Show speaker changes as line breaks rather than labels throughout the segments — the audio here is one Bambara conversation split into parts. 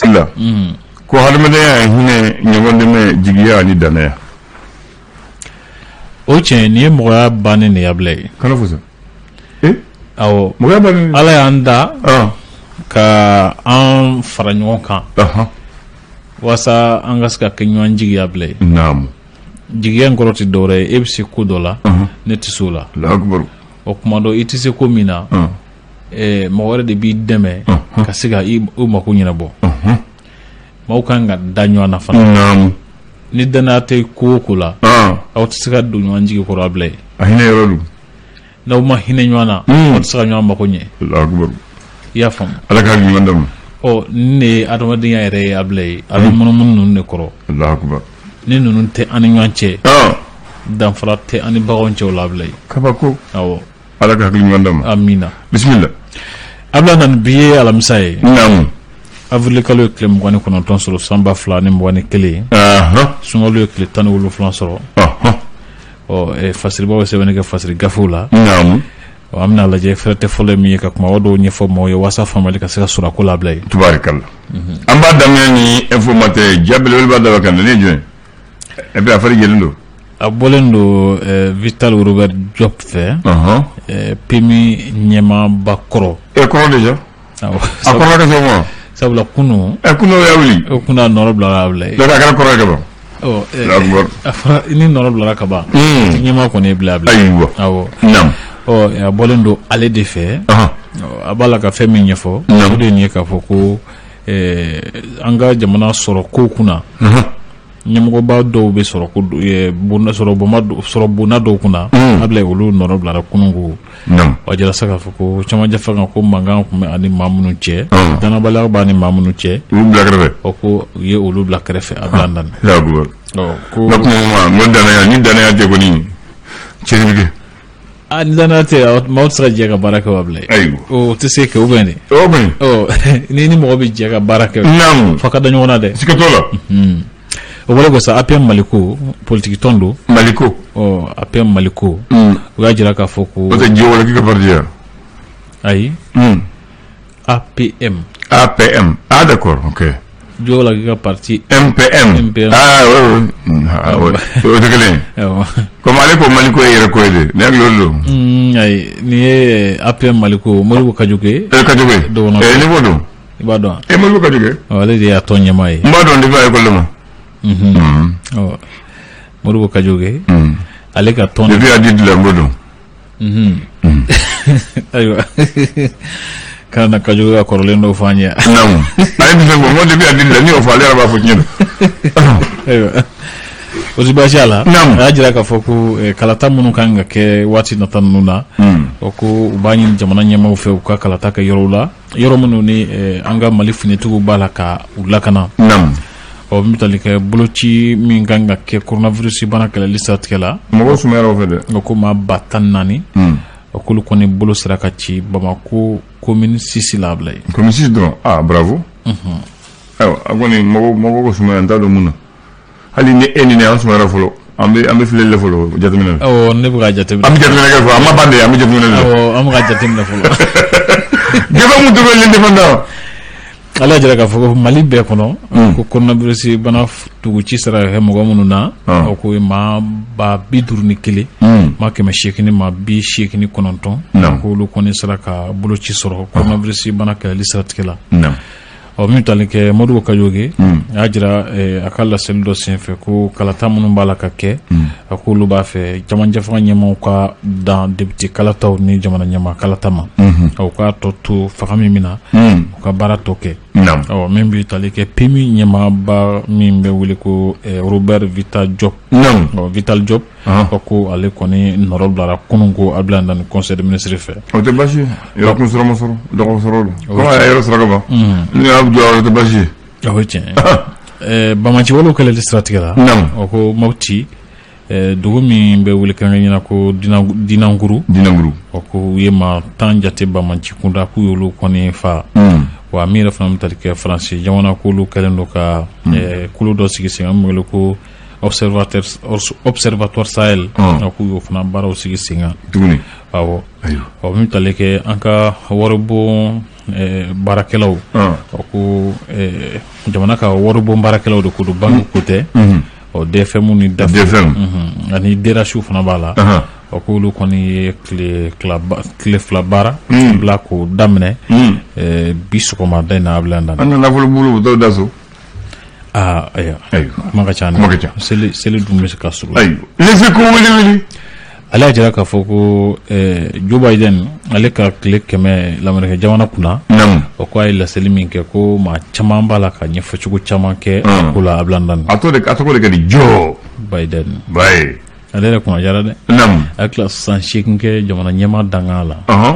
la ko hadamadenya ye hinɛ ɲɔgɔndɛmɛ jigiya ani
danaya o tiɲɛnen ye mɔgɔya bannen de ye Ablaye kana fɔ mɔgɔ
ala y'an da
ka an fara ɲɔgɔn kan walasa an ka se ka kɛ ɲɔgɔn jigi ye Ablaye
jigiya in
kɔrɔ tɛ dɔwɛrɛ ye e bɛ se ko dɔ la ne tɛ se o la o kuma don i tɛ se ko min na eh, mɔgɔ wɛrɛ de b'i dɛmɛ ka se ka i mako ɲɛnabɔ maaw kan ka da ɲɔgɔn na fana ni danaya tɛ ko o ko la aw tɛ se ka don ɲɔgɔn jigi kɔrɔ Ablaye a hinɛ yɔrɔ don
n'aw ma
hinɛ ɲɔgɔn na hmm. aw tɛ se ka ɲɔgɔn mako ɲɛ i y'a faamu ala ka ɲuman d'an
ma ɔ nin de
ye adamadenya yɛrɛ ye Ablaye a bɛ hmm. munumunu ninnu de kɔrɔ ni ninnu tɛ an ni ɲɔgɔn cɛ danfara tɛ an ni baganw cɛ o la Ablaye kabako awɔ ala ka hakili ɲuman
d'an ma amina bisimila Ablaye
Nani bi ye alamisa ye
naamu avril
kalo ye tile mugan ni kɔnɔntɔn sɔrɔ san ba fila ni mugan ni kelen ahɔn sunkalo ye tile tan ni wolonfila sɔrɔ ahɔn ɔ eh, fasiribaw ye sɛbɛnni kɛ fasiri gafew la naamu
ɔ, an bɛna
lajɛ fɛrɛ tɛ fɔlɔ ye min ye ka kumaba dɔw ɲɛfɔ maaw ye walasa faamali ka se ka sɔrɔ a ko la Ablaye tubaarikala
an b'a daminɛ ni Informateur ye ja belebele b'a daba kan nin ye jɔn ye E bɛ afiri jeliw don a bɔlen don
vta bɛ jɔ fɛ pmi ɲɛmaba kɔrɔ e kɔrɔ de
a sabula kunun
ɛ kun o
kun nɔɔrɔ bila kɔrɔ ni
nɔɔrɔ bilara kaban ɲɛma kɔni bila a
a bɔlen
don ale de fɛ a b'a la ka fɛn min ɲɛfɔ de ye k'a fɔ ko an ka jamana sɔrɔkow kunna ɲɛmɔgɔba dɔw bɛ sɔrɔ bonda dɔw kunna Ablaye olu nɔrɔ bilara kunun ko a jɛra sa k'a fɔ ko cɛmancɛ fanga ko mankan tun bɛ a ni maa minnu cɛ danabaliya b'a ni maa minnu cɛ
ko u ye
olu bila kɛrɛfɛ
Ablaye danaya ni danaya tɛ kɔni cɛ a ni danaya tɛ yen,
maaw tɛ se ka jɛ ka baara kɛ wa Ablaye? Ayiwa. O tɛ se kɛ ou bien de? O bɛ yen. Ɔ n'i ni mɔgɔ bɛ jɛ ka baara kɛ. Naamu. F'aw ka da ɲɔgɔn na dɛ. Siga t'o la.
Unhun.
O bɔlen kɔ sa, APM Maliko politique tɔn don. Maliko.
Ɔ APM
Maliko. Un. U y'a jira k'a fɔ ko. N'o tɛ Joe Walaki ka parti ye wa?
Ayi.
Un. APM. APM. Ah, d'accord, ok. Joe Walaki ka parti. MPM.
MPM. Ah, oui, oui. Mm, Ah, oui. O tɛ kelen ye. Awɔ. Comme ale ko Maliko ye yɛrɛko ye de. Ne hakili la o de don. Mm, ayi nin ye
APM Maliko Modibo Kadjoké E Kadjoké. Dɔgɔnɔ.
Eh, ne b'o dɔn. i b'a dɔn
E Modibo Kadjoké wa? Ɔ,
ale de y'a tɔn
ɲɛmaa ye N b'a dɔn depuis a école la
ma. Mhm. Ɔ,
Modibo Kadjoké Mm. ale ka tɔn Depuis ADIDE la n b'o dɔn. ayiwa kana Kajoke ka kɔrɔlen dɔw fɔ an ye naamu a ye nin
fɛn fɔ n ko depuis a dili la ne y'o fɔ ale yɛrɛ b'a fɔ tiɲɛ don
ayiwa o ti baasi a la Naamu. a y'a jira k'a fɔ ko eh, kalata minnu kan ka kɛ waati nata ninnu na o ko u b'a ɲini jamana ɲɛmaaw fɛ u ka kalata kɛ yɔrɔw la yɔrɔ minnu ni an ka mali finitigiw b'a la ka u lakana ɔ min bɛ tali kɛ boloci min kan ka kɛ koronavirisi bana kɛlɛli siratigɛ la mɔgɔw sumayara o fɛ dɛ
a ko maa ba
tan naani a k'olu kɔni bolo sera ka ci bamakɔ komini sisi la Abilayi komini sisi dɔrɔn
bravo ayiwa a kɔni mɔgɔw ka sumaya n t'a dɔn mun na hali ni e ni ne an sumayara fɔlɔ an bɛ an bɛ filɛli la fɔlɔ jateminɛ na awɔ ne bɛ ka jateminɛ an
bɛ jateminɛ kɛ fɔlɔ an ma
ban de an bɛ jateminɛ na awɔ an bɛ ka jateminɛ
fɔlɔ
gɛfɛ mun tora L'Indépendant ale y'a
jira k'a fɔ ko mali bɛɛ kɔnɔ hmm. ko koronavirisi bana tuguci sera ka kɛ mɔgɔ minnu na ah. ko maa ba bi duuru ni kelen hmm. maa kɛmɛ seegin maa bi seegin kɔnɔntɔn k'olu kɔni sera ka boloci sɔrɔ ah. koronavirisi bana kɛlɛli siratigɛ la ɔ min bɛ tali kɛ modibo Kajoke hmm. a y'a jira eh, a ka laseli dɔ senfɛ ko kalata minnu b'a la ka kɛ hmm. a k'olu b'a fɛ cɛmancɛfanga ɲɛmaaw ka dan député kalataw ni jamana ɲɛmaa kalata ma hmm. u k'a tɔ to fanga min bɛ na u ka baara tɔ kɛ ɔ min bɛ tali kɛ PMU ɲɛmaaba min bɛ wele ko eh, robert Vital Diop Vital Diop Ko ko ale kɔni nɔrɔbilara kunun ko a bila ni conseil de ministre fɛ o tɛ
baasi yɔrɔ kun sɔrɔ sɔrɔ dɔgɔ sɔrɔ yɛrɛ sɔrɔ ban n y'a bila tɛ baasi ye o ye tiɲɛ
banbaanci walew kɛlɛli siratigɛ la ko Mopti dugu min bɛ wele kɛrɛnkɛrɛnnenya la ko Dinanguru Dinanguru o ko u ye maa tan jate banbaanci kunda k'u y'olu kɔni faa wa a min yɛrɛ fana bɛ tali kɛ faransi jamana k'olu kɛlen don ka kulu dɔ sigi sen kan ko observatoire Sahel k'u y'o fana baaraw sigi sen kan ɔ min tali kɛ an ka waribon baarakɛlaw ko jamana ka waribon baarakɛlaw de ko don banque ko tɛ ɔ DFM ni DAF ani DRH fana b'a la ɔ k'olu kɔni ye tile fila baara bila ko daminɛ bi sɔgɔmada in na a bila da an ka nafolo bolo dɔw
da so aa
ayiwa ayiwa kuma ka ca dɛ. Kuma ka ca. seli seli dun bɛ se ka surunya Les Échos
wele wele ale y'a
jira k'a fɔ ko eh, joe biden ale ka tile kɛmɛ lamerikɛ jamana kunna namu o ko a ye laseli min kɛ ko maa caman b'a la ka ɲɛfɔcogo caman kɛ a Mm. ko la a bilandan a tɔ de a tɔgɔ de ka
di joe biden
ale yɛrɛ kunna diyara dɛ namu a ye tila san seegin kɛ jamana ɲɛmaa dankan la ɔhɔn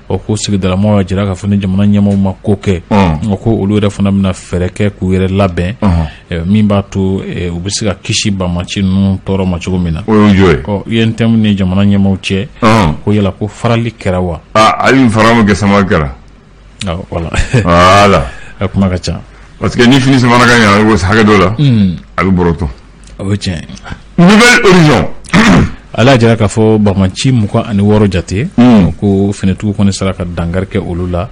ɔ ko sigidalamaw y'a jira k'a fɔ ni jamana ɲɛmaaw ma ko kɛ ɔ ko olu yɛrɛ fana bɛna fɛɛrɛ kɛ k'u yɛrɛ labɛn min b'a to u bɛ se ka kisi banmaci ninnu tɔɔrɔ ma cogo min na o y'o ye ɔ UNTM ni jamana ɲɛmaaw cɛ ko yala ko farali kɛra wa hali fara ma
kɛ samali kɛra voilà
a kuma ka ca parce que ni fini samana
ka ɲɛ hakɛ dɔ la a bɛ bɔrɔtɔ o
ye tiɲɛ Nouvel
Horizon ale
y'a jira k'a fɔ bamaci mugan ani wɔɔrɔ jate hmm. ko finitigiw kɔni sera ka dankari kɛ olu la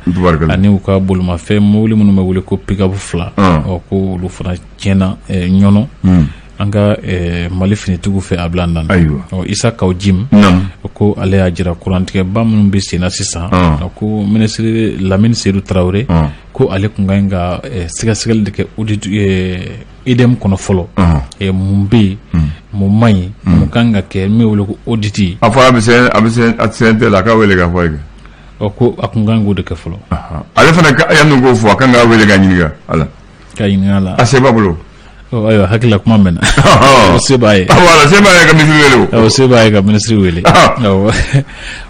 ani u ka bolimafɛn mobili minnu bɛ wele ko pick-up fila ah. ko olu fana tiɲɛna eh, ɲɔnɔ hmm. an ka eh, mali finitigiw fɛ a bila na Isa Kaw Jim ko ale y'a jira kurantigɛba minnu bɛ senna sisan ah. ko minisiri lamini sedu tarawele ah. ko ale tun ka ɲi ka eh, sɛgɛsɛgɛli de kɛ EDM kɔnɔ fɔlɔ mun bɛ yen mun man ɲi mun kan ka kɛ min wele ko audit a fɔ
a bɛ CNT la a k'a weele k'a fɔ a ye ɔ ko a tun
kan k'o de kɛ fɔlɔ ale fana
yanni k'o fɔ a kan k'a weele k'a ɲininka a la k'a ɲininka
la a se b'a
bolo ayiwa hakili
la kuma mɛnna se b'a ye se ka
misi se b'a ye ka minisiri
wele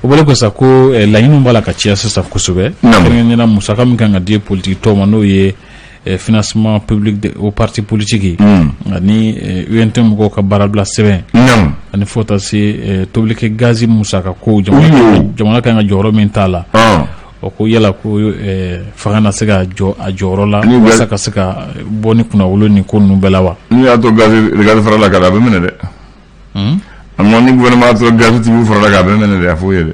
o bɔlen kɔ sa ko laɲini b'a la ka caya sisan kosɛbɛ kɛrɛnkɛrɛnnenya musaka min kan ka di politigi tɔnw ma n'o ye financement public aux partis politiques ani UNTM mɔgɔw ka baarabila sɛbɛn ani fo taa se tobilikɛ gazi musaka ko jamana ka kan ka jɔyɔrɔ min t'a la o ko yala ko fanga na se ka jɔ a jɔyɔrɔ la walasa ka se ka bɔ ni kunnawolo nin ko ninnu bɛɛ la wa n'i y'a to
gazi farala kan a bɛ minɛ dɛ a ma ni gouvernement y'a to gazitigiw farala kan a bɛ minɛ dɛ a fɔ u ye dɛ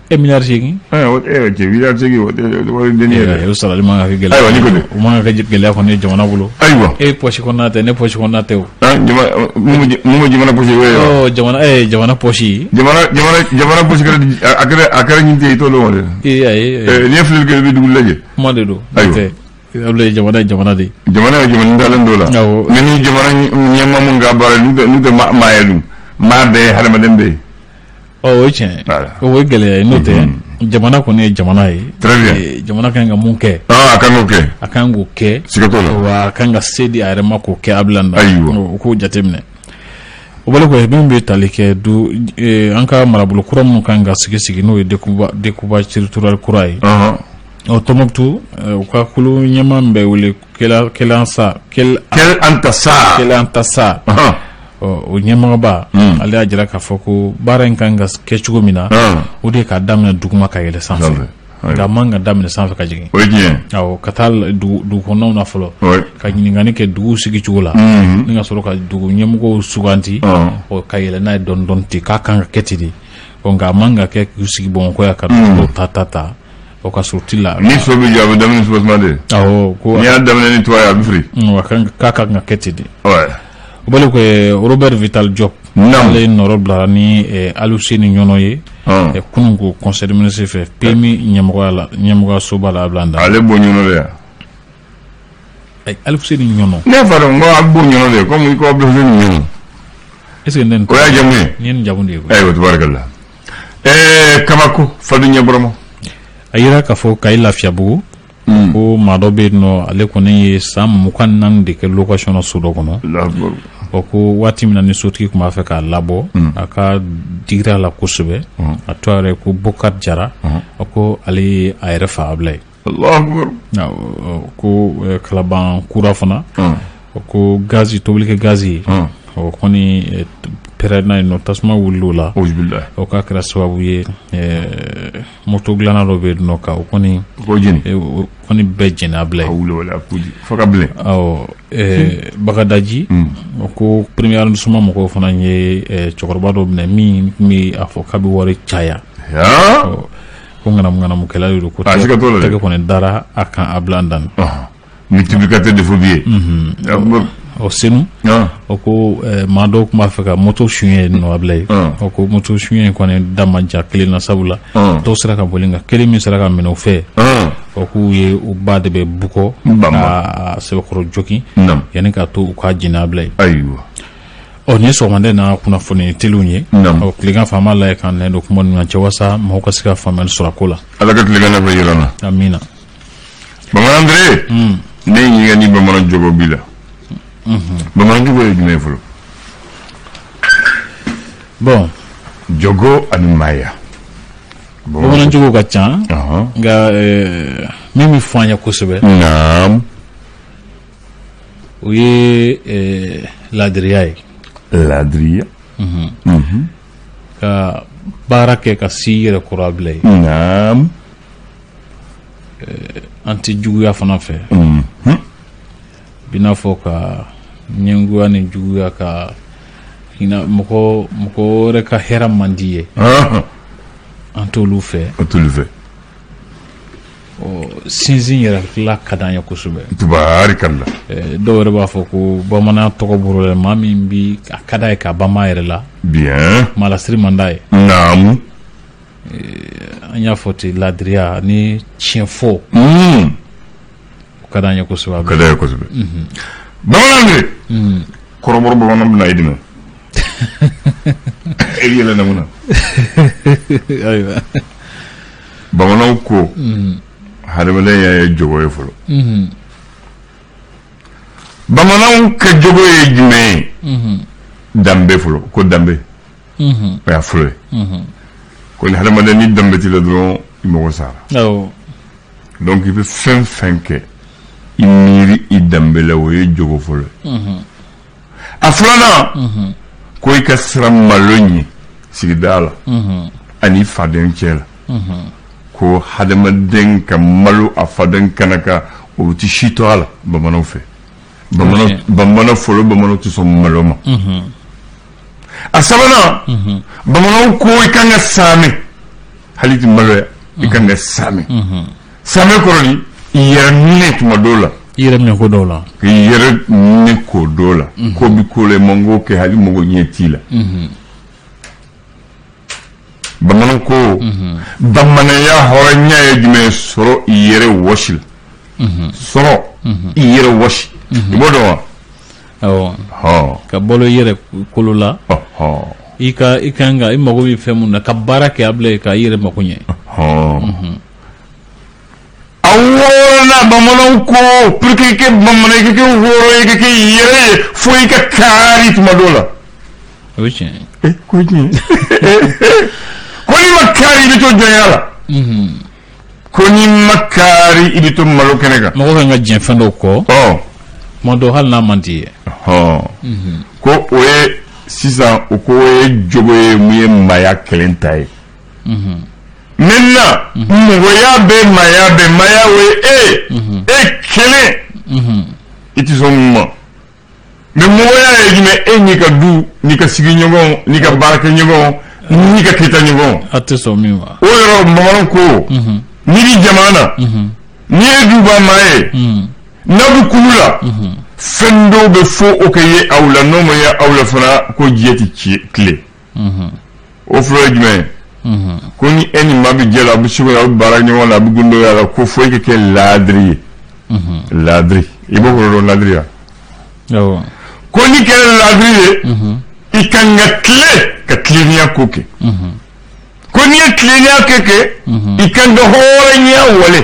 e miliyari
segin cɛ
miliyari segin wari den yɛrɛ o sarali man ka kɛ gɛlɛya
ayiwa ni kɔni o man ka
kɛ gɛlɛya
kɔni jamana bolo ayiwa e pɔsi kɔnɔna
tɛ ne
pɔsi kɔnɔna tɛ o
mun jamana pɔsi o jamana e jamana pɔsi
jamana
pɔsi a kɛra nin tɛ i t'o dɔn dɛ ee n'i ye filɛli kɛ i bɛ dugu lajɛ kuma de
don tɛ
ye jamana jamana de
jamana ye jamana dalen
dɔ la mais ni jamana ɲɛmaa minnu ka baara n'u tɛ maa ye dun maa bɛ yen hadamaden bɛ yen Ɔ o ye
tiɲɛ ye Voilà. o ye gɛlɛya ye n'o tɛ jamana kɔni ye jamana ye Très bien. Eh, jamana kan ka mun kɛ aa a kan k'o kɛ a
kan k'o kɛ siga
t'o la wa a kan
ka se di
a yɛrɛ ma k'o kɛ a bila na Ayiwa. o k'o jateminɛ o bɔlen kɔ fɛn min bɛ tali kɛ du eh, an ka marabolo kura minnu kan ka sigi sigi n'o ye découpage territorial kura ye Ɔhɔn. ɔ tɔmɔkutu eh, u ka kulu ɲɛmaa min bɛ wele Kɛl Antasa o ɲɛmɔgɔba ale y'a jira k'a fɔ ko baara in kan ka kɛ cogo min na o de k'a daminɛ duguma ka yɛlɛ sanfɛ nka man ka daminɛ sanfɛ ka jigin
ka
taa dugu kɔnɔnaw na fɔlɔ ka ɲininkali kɛ duguw sigicogo la ni ka sɔrɔ ka dugu ɲɛmɔgɔw suganti ka yɛlɛ n'a ye dɔɔnin dɔɔnin ten k'a kan ka kɛ ten de nka a man ka kɛ sigi Bamakɔ yan ka ta ta ta o ka suruti la ni so bɛ jɔ a bɛ daminɛ
ni soubassement de ko n'i y'a
daminɛ ni
toit ye a bɛ firi k'a kan
ka kɛ ten de o bali ko Robert Vital Diop ale nɔrɔ bilara ni Aluseni Ɲɔnɔ ye kunun ko conseil des ministres fɛ PMU ɲɛmɔgɔ
la
ɲɛmɔgɔya
soba la Abila
Dan ale
bɔ
Ɲɔnɔ yan Aluseni Ɲɔnɔ ne fa ko a bɔ
Ɲɔnɔ de kɔmi nin Ɲɔnɔ
e jamu ye
jamu de ye o
tɛ la
Ɛɛ kabako fa ɲɛ bɔrɔma a jira
k'a fɔ Kayi Lafiyabugu hmm. ko maa dɔ bɛ yen nɔ ale kɔni ye san mugan naani de kɛ location na so dɔ kɔnɔ ɔ ko waati min na ni sotigi tun b'a fɛ k'a labɔ hmm. a k'a digira a la kosɛbɛ hmm. a tɔgɔ yɛrɛ ko Bokari Jara a ko ale ye a yɛrɛ fa Abilaye ko Kalabankura fana ko gazi tobilikɛ gazi o kɔni pɛrɛnna yen nɔ tasuma wulila la o k'a
kɛra sababu
ye moto dilanna dɔ bɛ yen ka o
kɔni kɔni
bɛɛ jeni Abilaye Bagadaji o ko premier arrondissement mɔgɔw fana ye cɛkɔrɔba dɔ minɛ min tun bɛ a fɔ k'a bɛ wari caya ko ŋanamuŋanamukɛla de don ko Ah, siga t'o la dɛ. tɛgɛ kɔni dara a kan Abila Dan Ɔhɔn.
multiplicateur de faux billets Akbar.
o Senu Ah, o ko eh, maa dɔw tun b'a fɛ ka moto suɲɛ yen nɔ Abilaye Mm. o ko moto suɲɛ in kɔni da ma diya kelen na sabula Mm. tɔw sera ka boli nka kelen min sera ka minɛ u fɛ ah, o k'u ye u ba de bɛ bugɔ Bama. ka sɛbɛkɔrɔ jogin nam yanni k'a to u k'a jeni Abilaye ayiwa
ɔ nin
ye sɔgɔmada na kunnafoni teliw ye ɔ tilegan fɛ an b'a lajɛ k'an nɛn don kuma ninnu na jaasa mɔgɔw ka se ka faamuyali sɔrɔ a ko la ala ka tilegan na fɛ
yira an na amina bamanan Andre hmm. ne ɲininka ni bamanan jogo b'i la hmm. bamanan jogo ye jumɛn ye
fɔlɔ bɔn
jogo ani
maaya bamanan jogo ka ca nka eh, min bɛ fɔ an ye kosɛbɛ o ye laadiriya ye laadiriya ka baara kɛ ka se i yɛrɛ kɔrɔ Abilaye
an
tɛ juguya fana fɛ bɛna fɔ ka ɲɛngoya ni juguya ka mɔgɔ mɔgɔ wɛrɛ ka hɛrɛ man di i ye an t'olu fɛ sinsin yɛrɛ tila ka di an ye kosɛbɛ tubarikala
dɔw yɛrɛ
b'a fɔ ko bamanan tɔgɔ bɔra maa min bɛ a ka d'a ye ka banban a yɛrɛ la bi maa
lasiri man d'a ye
naamu an y'a fɔ ten laadiriya ni tiɲɛfɔ o ka di an ye kosɛbɛ a ka d'a ye kosɛbɛ
bamanan de kɔrɔbɔrɔ bamanan bɛna i dɛmɛ e yɛlɛ na mun na
ayiwa
bamananw ko hadamadenya ye jogo ye fɔlɔ bamananw ka jogo ye jumɛn ye danbe fɔlɔ ko danbe o y'a fɔlɔ ye ko ni hadamaden ni danbe t'i la dɔrɔn i mago sara awɔ donc i bɛ fɛn fɛn kɛ i miiri i danbe la o ye jogo fɔlɔ ye a filanan ko i ka siran malo ɲɛ i sigida la ani i faden cɛ la ko hadamaden ka malo a faden kɛnɛ kan o ti si to a la bamananw fɛ bamanan Ok. bamanan fɔlɔ bamananw tɛ sɔn malo ma a sabanan bamananw ko i kan ka saame hali i ti maloya i kan ka saame Saame kɔrɔ di i yɛrɛ minɛ tuma dɔw la i yɛrɛ minɛ ko
dɔw la i yɛrɛ minɛ ko dɔw
la ko bɛ ko la i man kan k'o kɛ hali mɔgɔ ɲɛ t'i la bamanan ko bamananya hɔrɔnya ye jumɛn sɔrɔ i yɛrɛ wɔsi la sɔrɔ i yɛrɛ wɔsi i b'o dɔn
wa ka balo i yɛrɛ kolo la i ka i ka kan ka i mago bɛ fɛn min na ka baara kɛ a bila ka i yɛrɛ mako ɲɛ
awona bamananw ko pour que kɛ bamanan i ka kɛ hɔrɔn ye i ka kɛ yɛrɛ ye fo i ka kaari tuma dɔ la o ye tiɲɛ ye
ko tiɲɛ
ko n'i ma kaari i bɛ to jɔnya la ko n'i ma kaari i bɛ to malo kɛnɛ kan mɔgɔ kan ka diɲɛ fɛn
dɔw kɔ tuma dɔw hali n'a man d'i ye
ko o ye sisan o ko o ye jogo ye mun ye maaya kelen ta ye maintenant mɔgɔya bɛ maaya bɛ maaya o ye e e kelen i tɛ sɔn min ma mais mɔgɔya ye jumɛn e n'i ka du n'i ka sigiɲɔgɔn n'i ka baarakɛɲɔgɔn n'i ka kita ɲɔgɔn aw tɛ sɔn min
ma o yɔrɔ bamananw
ko n'i bɛ jamana na n'i ye duba maa ye n'aw bɛ kulu la fɛn dɔw bɛ fo o ka ye aw la n'o ma ye aw la fana ko diɲɛ tɛ tilen o fɔlɔ ye jumɛn ye ko ni e ni maa bɛ jɛ la a bɛ se a bɛ baara ɲɔgɔn la a bɛ gundoya la ko fo i ka kɛ laadiri ye laadiri i b'o kɔrɔ dɔn laadiriya ko n'i kɛra laadiri ye i kan ka tilen ka tileninya ko kɛ ko n'i ye tileninya ko kɛ i kan ka hɔrɔnya wale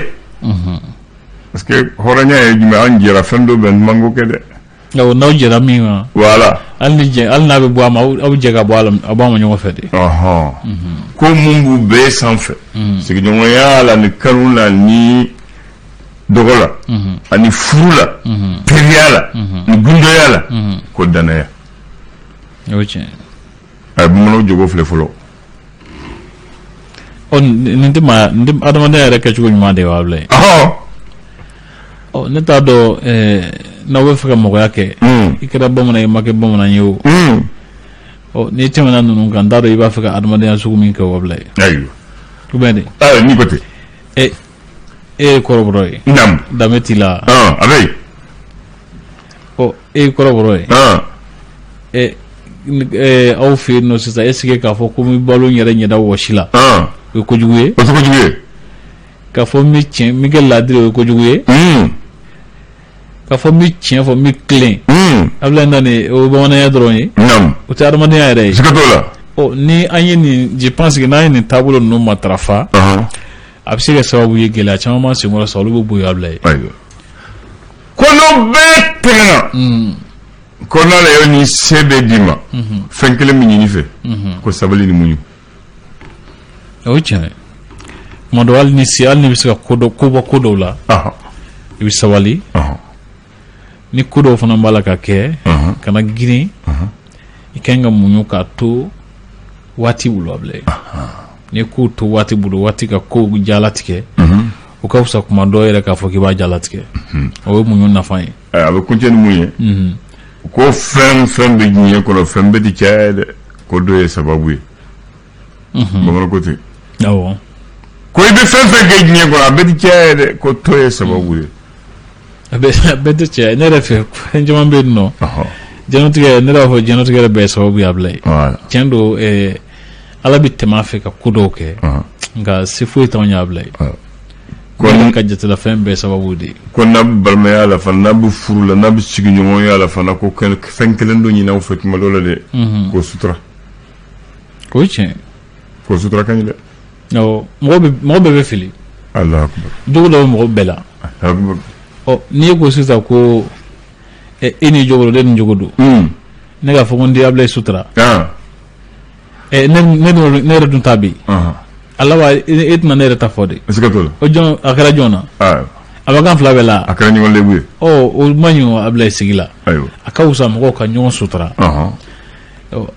parce que hɔrɔnya ye jumɛn an jɛra fɛn dɔ bɛ n mango kɛ dɛ n'aw
jɛra min kan voilà
hali hali
n'a bɛ bɔ a ma aw jɛ ka bɔ aw b'a ma ɲɔgɔn fɛ de ko
mun b'u bɛɛ sanfɛ sigiɲɔgɔnya la ni kanu la ni dɔgɔ la ani furu la teriya la ni gundoya la ko danaya
a
ye bamananw jogo filɛ
fɔlɔ ɔ nin tɛ maa nin tɛ adamadenya yɛrɛ kɛcogo ɲuman de ye wa Abdoulaye ɔhɔn ɔ ne t'a dɔn ɛɛ n'aw bɛ fɛ ka mɔgɔya kɛ Mm. i kɛra bamanan ye i ma kɛ bamanan ye o Mm. ɔ n'i tɛmɛna ninnu kan n t'a dɔn i b'a fɛ ka adamadenya sugu min kɛ o Abdoulaye ayiwa
ou bien de
ayiwa n'i ko ten
ɛ
e ye kɔrɔbɔrɔ ye naamu danbe t'i la ɔn a
bɛ
yen ɔ e ye kɔrɔbɔrɔ ye ɔn ɛ ni- ɛ, aw fɛ yen nɔ sisan est-ce que k'a fɔ ko n bɛ balo n yɛrɛ ɲɛda wɔsi la ɔn o ye kojugu ye o tɛ kojugu ye
k'a fɔ
n bɛ tiɲɛ n bɛ kɛ laadiri o ye kojugu ye un k'a fɔ n bɛ tiɲɛ fɔ n bɛ tilen un Abdoulaye ni o ye bamananya dɔrɔn ye naamu o tɛ adamadenya yɛrɛ ye siga t'o la ɔ
ni an ye nin
je pense que n'an ye nin taabolo ninnu matarafa ɔhɔn a bɛ se ka sababu ye gɛlɛya caman b'an senkɔrɔ sa olu bɛ bɔ yen Abdoulaye
ko n'o bɛɛ tɛmɛna mm. ko n'ala ye nin se bɛɛ d'i ma mm-hmm. fɛn kelen bɛ ɲini i fɛ mm-hmm. ko sabali ni
muɲu o ye tiɲɛ ye tuma dɔ hali ni se hali n'i bɛ se ka ko dɔ ko bɔ ko dɔw la i bɛ sabali ni ko dɔw fana b'a la k'a kɛ kana girin i ka kan ka muɲu k'a to waati bolo Abdoulaye n'i ko to waati bolo waati ka ko jalatigɛ o ka fisa kuma dɔw yɛrɛ k'a fɔ k'i b'a jalatigɛ o ye muɲu nafa ye a bɛ kuncɛ ni mun
ye ko fɛn fɛn bɛ diɲɛ kɔnɔ fɛn bɛɛ tɛ cɛya ye dɛ ko dɔ ye sababu ye bamanan ko ten
awɔ ko i
bɛ fɛn fɛn kɛ diɲɛ kɔnɔ a bɛɛ tɛ cɛya ye dɛ ko tɔ ye sababu ye a
bɛɛ tɛ cɛya ne yɛrɛ fɛ fɛn caman bɛ yen nɔ diɲɛlatigɛ ne b'a fɔ diɲɛlatigɛ yɛrɛ bɛɛ sababu ye Abdoulaye tiɲɛ don ala bɛ tɛmɛ a fɛ ka ko dɔw kɛ nka se foyi t'anw ye Abdoulaye ko ka jatela fɛn bɛɛ sababu de ye ko n'a bɛ balimaya
la fana n'a bɛ furu la n'a bɛ sigiɲɔgɔnya la fana ko fɛn kelen dɔ ɲini anw fɛ tuma dɔ la dɛ ko sutura
O ye tiɲɛ ko sutura
ka ɲi
dɛ mɔgɔ bɛɛ bɛ
fili Alahu akubar jogo dɔ bɛ mɔgɔ bɛɛ
la n'i ye ko sisan ko e ni jogo don de ni jogo don ne k'a fɔ ko n tɛ Abdoulaye sutura ne yɛrɛ dun ta bɛ ala wa e tɛna ne yɛrɛ ta fɔ dɛ a kɛra jɔn na a bɛ k'an fila bɛɛ la a kɛra ɲɔgɔn
lebu ye o man ɲi
Abdoulaye sigi la a ka wusa mɔgɔw ka ɲɔgɔn sutura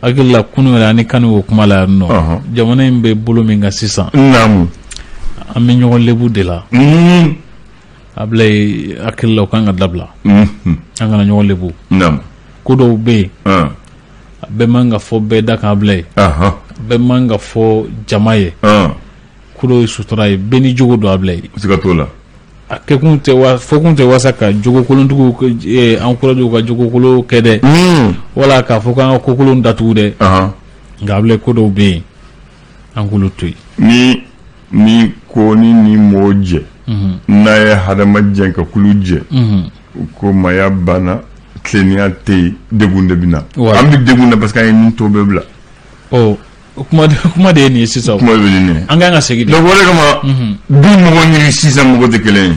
Hakilila kunun yɛrɛ ani kan o kuma la yan nɔ jamana in bɛ bolo min kan sisan an bɛ ɲɔgɔn lebu de la Abdoulaye hakilila o ka kan ka dabila an kana ɲɔgɔn lebu ko dɔw bɛ yen a bɛɛ man ka fɔ bɛɛ da kan Abdoulaye a bɛɛ man ka fɔ jama ye ye sutura ye bɛɛ ni jogo don Abdoulaye siga t'o
la a kɛkun
tɛ fɔkun tɛ walasa ka jogokolontigiw encourager ka jogokolon kɛ dɛ wala k'a fɔ k'an ka kokolon datugu dɛ nka Abdoulaye ko dɔw bɛ yen an k'olu to yen ni
ni ko ni ni mɔgɔ jɛ n'a ye hadama jɛ ka kulu jɛ u ko maya banna tilennenya tɛ yen degun de bɛ na an bɛ degun na parce que an ye nin tɔ bɛɛ bila
O kuma de ye nin ye sisan kuma an ka kan
ka segin dɛ o
de
kama du mɔgɔ ni sisan mɔgɔ tɛ
kelen ye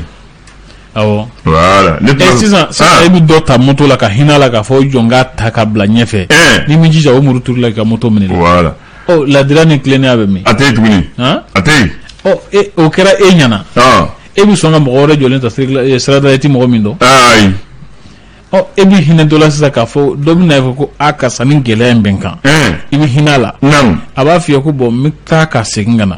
awɔ
voilà sisan
i bɛ dɔ ta moto la ka hinɛ a la k'a fɔ jɔn k'a ta ka bila ɲɛfɛ n'i m'i jija o muru turu i la ka moto
minɛ voilà ladiriya
ni tilennenya bɛ min a tɛ
tuguni a tɛ o kɛra e ɲɛna
e bɛ sɔn ka mɔgɔ wɛrɛ jɔlen ta sirada e tɛ mɔgɔ min dɔn ɔ e bɛ hinɛ dɔ la sisan k'a fɔ dɔ bɛ na fɔ ko a karisa ni gɛlɛya in bɛ n kan i bɛ hinɛ a la a b'a f'i ye ko bɔn n bɛ taa ka segin ka na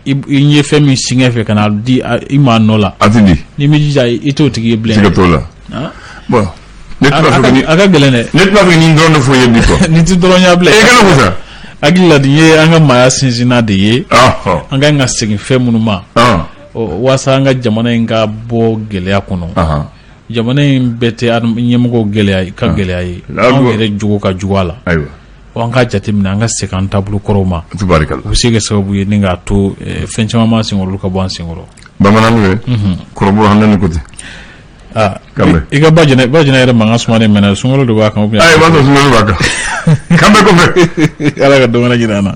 i ye fɛn min singa i fɛ ka n'a di i ma nɔ la a t'a di n'i m'i jija
i t'o
tigi ye bilen siga t'o la bɔn ne t'a fɛ ka ni a ka gɛlɛn dɛ ne t'a fɛ nin dɔrɔn de
fɔ i ye bi fɔ nin tɛ dɔrɔn ye Abdoulaye
kana ko
sa hakili la nin
ye an ka maaya sinsinna de ye an ka kan ka segin fɛn minnu ma waasa an ka jamana in ka bɔ gɛlɛya kɔnɔ jamana in bɛɛ tɛ ɲɛmɔgɔw gɛlɛya ka ah. gɛlɛya ye anw yɛrɛ jogo ka jugu a la an ka jateminɛ an ka segin an taabolo kɔrɔw ma u bɛ se ka sababu ye ni k'a to eh, fɛn caman b'an senkɔrɔ olu ka
bɔ an
senkɔrɔ bamanan
ye
mhm.
kɔrɔbɔ
an ni kote ah, i ka ba jɛnɛ ba jɛnɛ yɛrɛ mankan suma de mɛnɛ sunkalo de b'a kan
b'a kan k'an
bɛn kɔfɛ
ala
ka
dɔgɔ
wɛrɛ jira an na